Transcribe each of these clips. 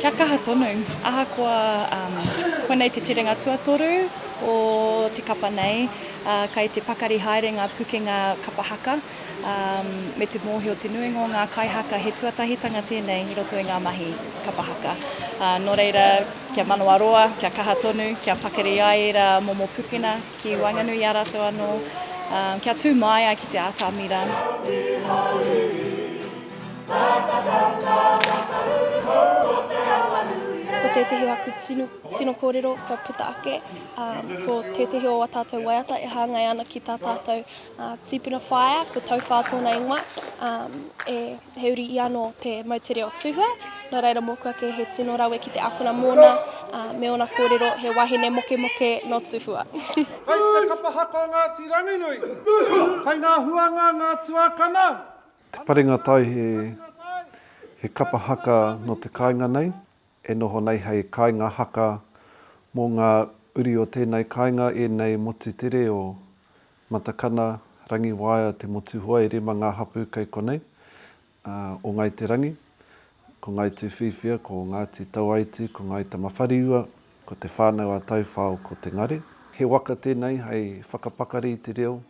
Kia kaha tonu, ahakoa konei te terenga tuatoru o te kapa nei, kei te pakari haere ngā pukenga kapa haka, me te mōhio te nuinga o ngā kaihaka he tuatahitanga tēnei i roto i ngā mahi kapa haka. Nō reira, kia manawaroa, kia kaha tonu, kia pakari ai ērā momo pukena ki waenganui i a rātou anō, kia tū māia ki te atamira. Ko tētehi o aku tino, tino kōrero kua puta ake, um, ko tētehi o a tātou waiata e hāngai ana ki tā tātou uh, tīpuna whaea, ko Tauwhā tōna ingoa, um, e, he uri ia nō te moutere o Tūhua, nō reira mōku ake he tino rawe ki te akona mōna, uh, me ōna kōrero he wahine mokemoke nō Tūhua. Kai te kapahaka o Ngāti Ranginui, kai ngā huanga, ngā tuakana, Te parenga tai he he kapa haka no te kainga nei, e noho nei hei kainga haka mo nga uri o tenei kainga enei motu te reo, Matakana, Rangiwaea, Te Motuhoe, rima nga hapu kei konei, a, o Ngai Te Rangi, ko Ngai Tuwhiwhia, ko Ngati Tauaiti, ko Ngai Tamawhariua, ko Te Whanau a Tauwhao, ko Te Ngare. He waka tenei hei whakapakari i te reo,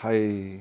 hei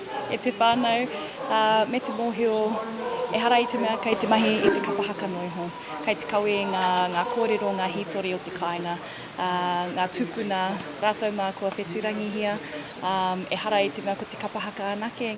e te whānau, ā, me te mōhio, ehara i te mea kei te mahi i te kapa haka noa iho. Kei te kawe i ngā, ngā kōrero, ngā hītori o te kāinga, ā, ngā tūpuna, rātou mā kua whetūrangihia, ā, ehara i te mea ko te kapa haka anake.